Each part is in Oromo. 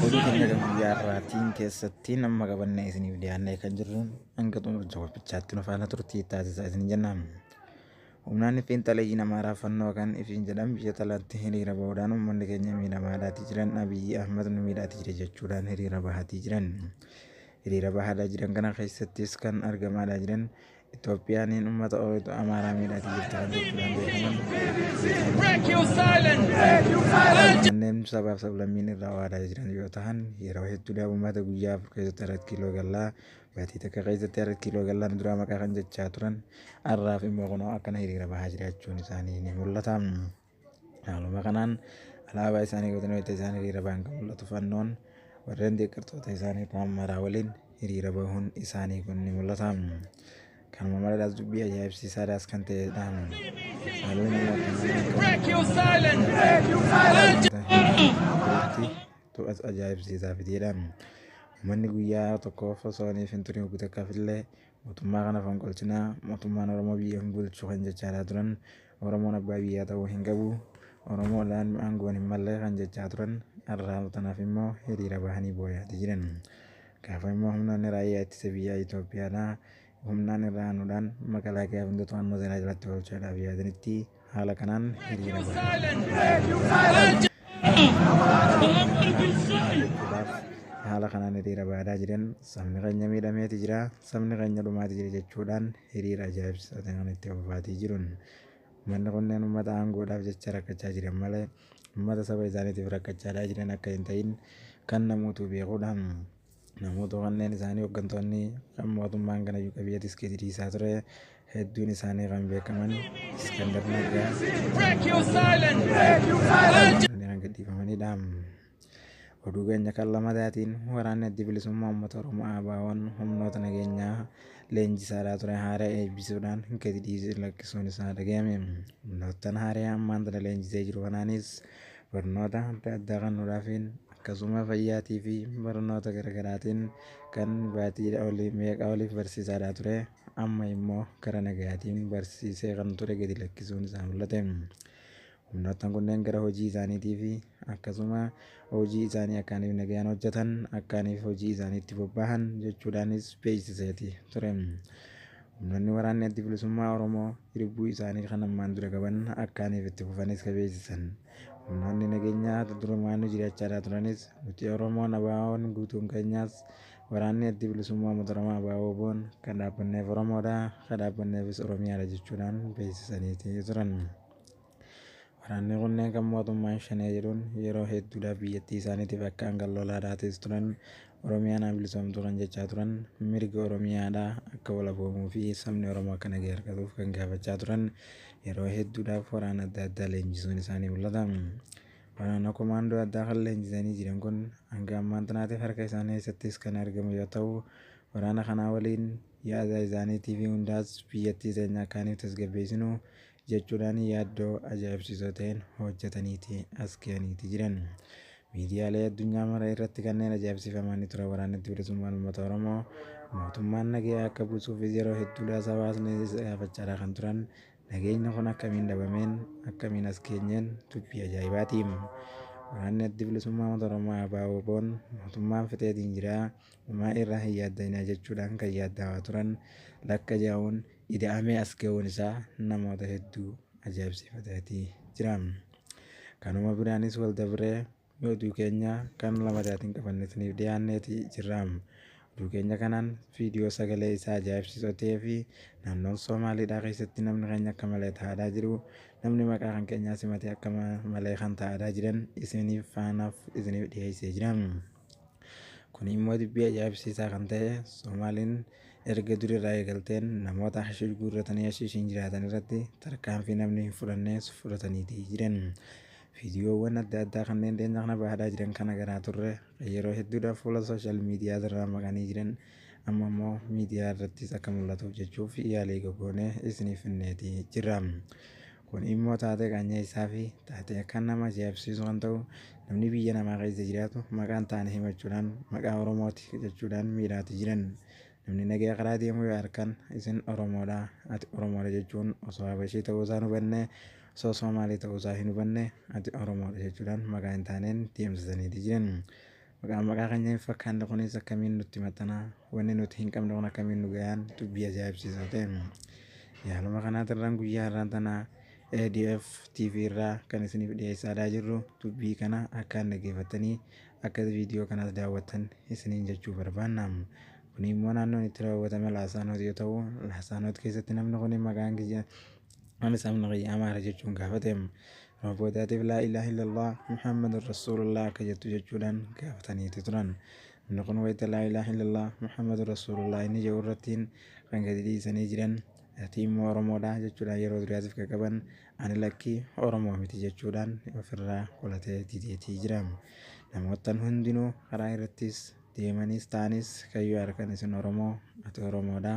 Hojii keenya guyyaa har'aatiin keessatti nama qabannee isiniif dhiyaannee kan jirru hanga xumura daawwannichaatti nu faana turtii taasisaa isin jenna. Humnaan fiinxaleeyyiin Amaaraa fannoo kan ifiin jedhan biyya talaatti hiriira bahuudhaan uummanni keenya miidhamaadhaatii jiran Abiyyi Ahmad nu miidhaatii jira jechuudhaan hiriira bahaatii jiran. Hiriira bahaadaa jiran kana keessattis kan argamaadhaa jiran Itoophiyaan uummata Oromoo Amaaraa miidhaati jirti kan jechuudhaan beekaman kanneen sabaaf sablammiin irraa waadaa jiran yoo ta'an yeroo hedduudhaaf uummata guyyaa afur keessatti arat kiiloo gallaa baatii takka keessatti arat kiiloo gallaan duraa maqaa kan jechaa turan har'aaf immoo kunoo akkana hiriira bahaa jiraachuun isaanii ni mul'ata. Haaluma kanaan alaabaa isaanii qabatanii wayita isaan hiriira bahan kan mul'atu fannoon warreen deeggartoota isaanii kaan maraa waliin hiriira bahuun isaanii kun ni mul'ata. Kanuma maleedhaas dubbii ajaa'ibsiisaadhaas kan ta'edha. Haalli to'atu ajaa'ibsiisaa fitiidha. Uummanni guyyaa tokkoof osoo hin hin turin hoggu takkaaf illee mootummaa kana fonqolchinaa mootummaan Oromoo biyya hin bulchu kan jechaa turan Oromoon abbaa biyyaa ta'uu hin qabu, Oromoodhaan aangoon hin malle kan jechaa turan har'a tanaaf immoo hiriira bahanii booyaati jiran. Gaafa immoo humnoonni raayyaa ittisa biyyaa Itoophiyaadhaa humnaan irra aanuudhaan makalaakiyaa hunda to'annoo seeraa jalatti oolchuudhaaf yaadanitti haala kanaan hiriira bahan. Haala kanaan hiriira bahaa jiran sabni keenya miidhameeti jira, sabni keenya dhumaati jira jechuudhaan Hiriira ajaa'ibsiisaa ta'e kana itti fufaatii jiruun ummanni kunneen ummata aangoodhaaf jecha rakkachaa jiran malee ummata saba isaaniitiif rakkachaadhaa jiran akka hin ta'in kan namootuu beekuudha. Namootuu kanneen isaanii hoggantoonni kan mootummaan kana iyyuu qabiyyee tiskee diriisaa ture hedduun isaanii kan beekaman Iskandar Naggaa kan gadhiifamanidha. Oduu keenya kan lamataatiin waraanni adda bilisummaa uummata Oromoo ABO'n humnoota nageenyaa leenjisaadhaa ture haaraa eebbisuudhaan gadi dhiisee lakkisuun isaa dhaga'ame. Humnoottan haaraa ammaan tana leenjisee jiru kanaanis barnoota adda addaa kan nuraafin akkasuma fayyaatii fi barnoota garaagaraatiin kan baatii olii meeqa oliif barsiisaadhaa ture amma immoo gara nagaatiin barsiisee kan ture gadi lakkisuun isaa mul'ate. Humnoottan kunneen gara hojii isaaniitii fi akkasuma hojii isaanii akkaaniif nagayaan hojjetan akkaaniif hojii isaaniitti bobbaahan jechuudhaanis beeksiseeti ture. Humnoonni waraanni addi bilisummaa Oromoo hiribbuu isaanii kan ammaan dura qaban akkaaniif itti fufanis ka beeksisan. Humnoonni nageenyaa durumaanuu jiraachaa turanis nuti Oromoon abaawoon guutuun keenyaas waraanni addi bilisummaa uummata Oromoo abaawoo boon kan dhaabbanneef Oromoodha kan dhaabbanneefis Oromiyaadha jechuudhaan beeksisaniiti turan. Waraanni kunneen kan mootummaan Shanee jedhuun yeroo hedduudhaaf biyyattii isaaniitiif akka hangan lolaa taates turan, Oromiyaan haa bilisoomtuu kan jechaa turan, mirgi Oromiyaadhaa akka walaboomuu fi sabni Oromoo akka nagaya argatuuf kan gaafachaa turan yeroo hedduudhaaf waraana adda addaa leenjisuun isaa ni mul'ata. Waraana komaandoo addaa kan leenjisanii jiran kun hanga ammaan tanaatiif harka isaanii keessattis kan argamu yoo ta'u, waraana kanaa waliin yaada isaaniitii fi hundaas biyyattii teenya akka isiniif tasgabbeessinu jechuudhaan yaaddoo ajaa'ibsiisoo ta'een hojjetaniiti as ga'aniiti jiran. Miidiyaalee addunyaa mara irratti kanneen ajaa'ibsiifamanii turan waraanni bilisummaa uummata Oromoo mootummaan nageenya akka buusuufis yeroo hedduudhaas hawaasni gaafachaadhaa kan turan nageenyi kun akkamiin dhabameen akkamiin as geenyeen dubbii ajaa'ibaati. Waraanni addi bilisummaa uummata Oromoo ABOn mootummaan fixeetiin jira homaa irraa hin yaaddainaa jechuudhaan kan yaaddaawaa turan lakka jaa'uun ida'amee as ga'uun isaa namoota hedduu ajaa'ibsiifataatii jira. Kanuma biraanis wal dabree oduu keenya kan lamataatiin qabannee isiniif dhiyaanneeti jirra. Oduu keenya kanaan viidiyoo sagalee isaa ajaa'ibsiisoo ta'ee fi naannoon Soomaaliidhaa keessatti namni keenya akka malee ta'aadhaa jiru namni maqaa kan keenyaa simatee akka malee kan ta'aadhaa jiran isiniif faanaaf isiniif dhiyeessee jira. Kun immoo dubbii ajaa'ibsiisaa kan ta'e Somaaliin erga durii irraa eegalteen namoota hashiish guurratanii hashiishiin jiraatan irratti tarkaanfii namni hin fudhannees fudhataniiti jiran. Viidiyoowwan adda addaa kanneen dhiyeenya kana bahaadhaa jiran kan agarraa turre kan yeroo hedduudhaaf fuula sooshaal miidiyaa irraa maqanii jiran amma immoo miidiyaa irrattis akka mul'atuuf jechuuf yaalii gogoonee isiniif finneeti jirra. Kun immoo taatee qaanyeessaa fi taatee akkaan nama ajaa'ibsiisu kan ta'u namni biyya namaa keessa jiraatu maqaan taane himachuudhaan maqaa Oromooti jechuudhaan miidhaati jiran. Namni nagaya karaa deemu yoo arkan isin Oromoodha, ati Oromoodha jechuun osoo Habashii ta'uu isaa hin hubanne, osoo Soomaalii ta'uu isaa hin hubanne ati Oromoodha jechuudhaan maqaa hin taaneen deemsisaniiti jiran. Maqaan maqaa keenya hin fakkaanne kunis akkamiin nutti maxxana? Wanni nuti hin qabne kun akkamiin nu gayaan? Dubbii ajaa'ibsiisaa ta'e. Yaaluma kanaatirraan guyyaa har'aan tana ADF TV irraa kan isiniif dhiyeessaa jirru dubbii kana akkaan dhaggeeffattanii akka viidiyoo kanaas daawwattan isiniin jechuu barbaanna. Kun immoo naannoon itti raawwatame Laasaanoot yoo ta'u, Laasaanoot keessatti namni kun maqaan kiyya Anas amna kiyya amaara jechuun gaafateem. Yeroo boodaatiif laa ilaaha illallah Muhammadun Rasuulullah akka jettu jechuudhaan gaafataniiti turan. Namni kun wayita laa ilaaha illallah Muhammadun Rasuulullah inni jedhu irrattiin kan gadi dhiisanii jiran ati immoo Oromoodha jechuudhaan yeroo duraatiif kan qaban ani lakkii Oromoo miti jechuudhaan ofirraa qolatee dideetii jira. Namoottan hundinuu karaa irrattis deemanis ta'anis kayyoo harkan isin Oromoo ati Oromoodha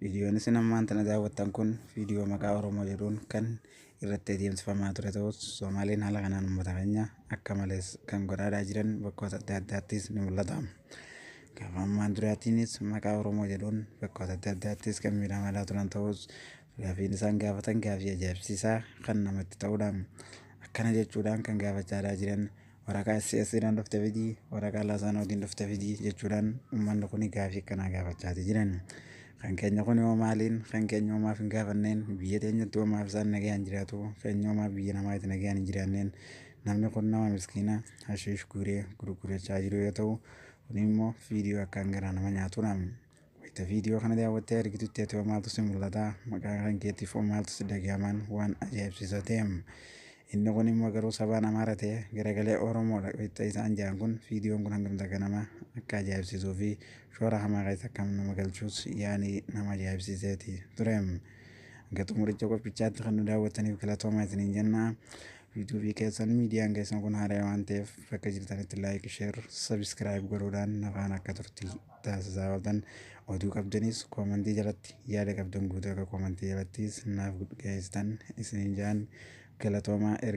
Viidiyoon isin ammaan tana daawwattan kun viidiyoo maqaa Oromoo jedhuun kan irratti adeemsifamaa ture ta'us Soomaaliin haala kanaan uummata keenya akka malees kan godhaadhaa jiran bakkoota adda addaattis ni mul'ata. Gaafa ammaan duraatiinis maqaa Oromoo jedhuun bakkoota adda addaattis kan miidhamaa turan ta'us gaafiin isaan gaafatan gaafii ajaa'ibsiisaa kan namatti ta'udha. Akkana jechuudhaan kan gaafachaa jiran waraqaa SSI dhaan dhufte fidi, waraqaa Laasaanootiin dhufte fidi jechuudhaan uummanni kun gaafii akkanaa gaafachaati jiran. Kan keenya kun hoo maaliin? Kan keenya hoo maaf hin gaafanneen? Biyya teenyatti hoo maaf isaan nagayaan jiraatu? Keenya hoo maaf biyya namaa itti nagayaan hin jiraanneen? Namni kun nama miskiina hashiish guuree gurgurachaa jiru yoo ta'u, kun immoo viidiyoo akkaan garaa nama nyaatudha. Wayita viidiyoo kana daawwattee argitutti ati hoo maaltu si mul'ata? Maqaa kan keetiif hoo maaltu si dhagahaman? Waan ajaa'ibsiisa ta'e. Inni kun immoo garuu sabaan Amaara ta'e garagalee Oromoodha wayita isaan jedhan kun viidiyoon kun hangam takka nama akka ajaa'ibsiisuu fi shoora hamaa keessa akka nama galchuus yaani nama ajaa'ibsiiseeti ture. Hanga xumuricha qophichaatti kan nu daawwattaniif galatoomaa isiniin jenna. Yuutuubii keessan miidiyaan keessan kun haaraa waan ta'eef bakka jirtanitti laayik, sheer, sabiskiraayib godhuudhaan nafaan akka turtii. taasisaa ooltan oduu qabdanis koomantii jalatti yaada qabdan guutuu akka koomantii jalattis naaf geessitan isiniin jaan galatoomaa erga